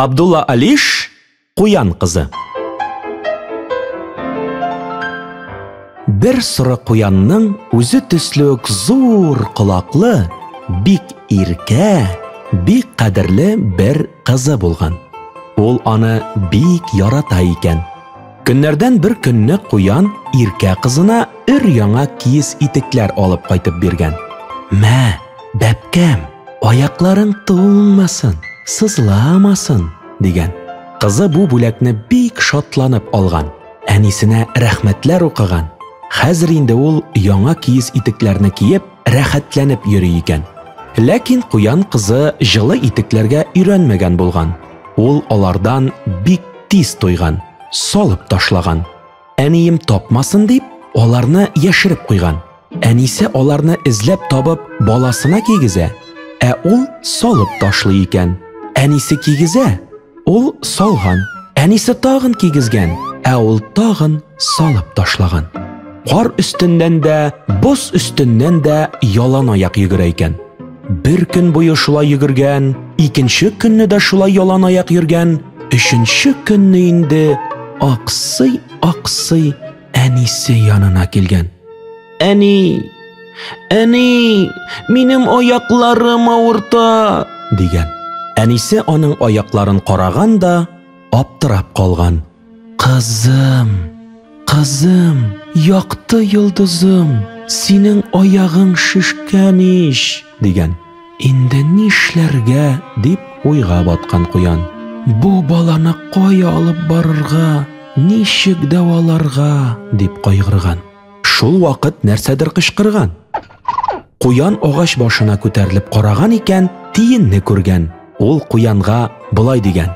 Абдулла Алиш Куян кызы. Бер соры куянның үзе төсле үк зур колаклы, бик иркә, бик кадерле бер кызы булган. Ул аны бик ярата икән. Көннәрдән бер көнне куян иркә кызына өр яңа киез итекләр алып кайтып биргән. Мә, бәпкәм, аякларың туңмасын, сызламасын, дигән. Кызы бу бүләкне бик шатланып алган. Әнисенә рәхмәтләр укыган. Хәзер инде ул яңа киез итекләрне киеп, рәхәтләнеп йөри икән. Ләкин куян кызы җылы итекләргә өйрәнмәгән булган. Ул алардан бик тиз туйган, салып ташлаган. Әнием тапмасын дип, аларны яшереп куйган. Әнисе аларны эзләп табып, баласына кигезә, ә ул салып ташлый икән. Әнисе кигезә, ул салган. Әнисе тагын кигезгән, ә ул тагын салып ташлаган. Кар өстеннән дә, боз өстеннән дә ялан аяк йөгерә икән. Бер көн буе шулай йөгергән, икенче көнне дә шулай ялан аяк йөргән, өченче көнне инде аксый, аксый әнисе янына килгән. Әни, әни, минем аякларым авырта, дигән. Әнисе аның аякларын караган да, аптырап калган. Кызым, кызым, якты йолдызым, синең аягың шешкән ич, дигән. Инде нишләргә дип уйга баткан куян. Бу баланы кая алып барырга, ничек дәваларга дип кайгырган. Шул вакыт нәрсәдер кычкырган. Куян агач башына күтәрелеп караган икән, тиенне күргән. Ул куянга болай дигән.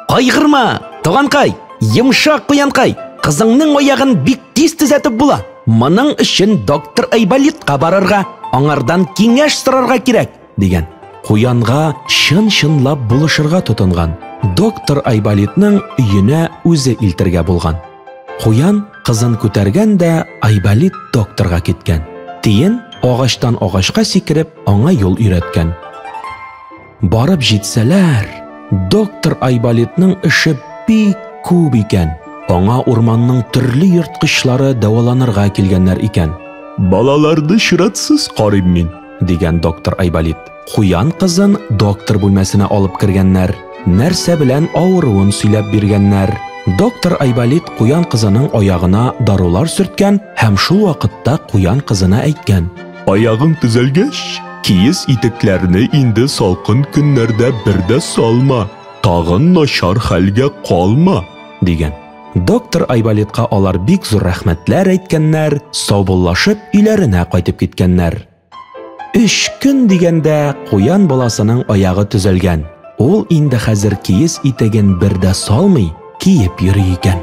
Кайгырма, туганкай, йомшак куянкай, кызыңның аягын бик тиз төзәтеп була. Моның өчен доктор Айболитка барырга, аңардан киңәш сорарга кирәк. дигән. Куянга чын-чынлап булышырга тотынган. Доктор Айболитның өенә үзе илтергә булган. Куян кызын күтәргән дә Айболит докторга киткән. Тиен агачтан агачка сикереп аңа юл өйрәткән. Барып җитсәләр, доктор Айболитның эше бик күп икән. Аңа урманның төрле ерткычлары дәваланырга килгәннәр икән. Балаларны чиратсыз карыйм мин. дигән доктор Айболит. Куян кызын доктор бүлмәсенә алып кергәннәр. Нәрсә белән авыруын сөйләп биргәннәр. Доктор Айболит куян кызының аягына дарулар сөрткән һәм шул вакытта куян кызына әйткән. Аягың төзәлгәч, киез итекләрне инде салкын көннәрдә бер дә салма. Тагын начар хәлгә калма, дигән. Доктор Айболитка алар бик зур рәхмәтләр әйткәннәр, саубуллашып өйләренә кайтып киткәннәр. Өч көн дигәндә куян баласының аягы төзәлгән. Ул инде хәзер киез итеген бер дә салмый, киеп йөри икән.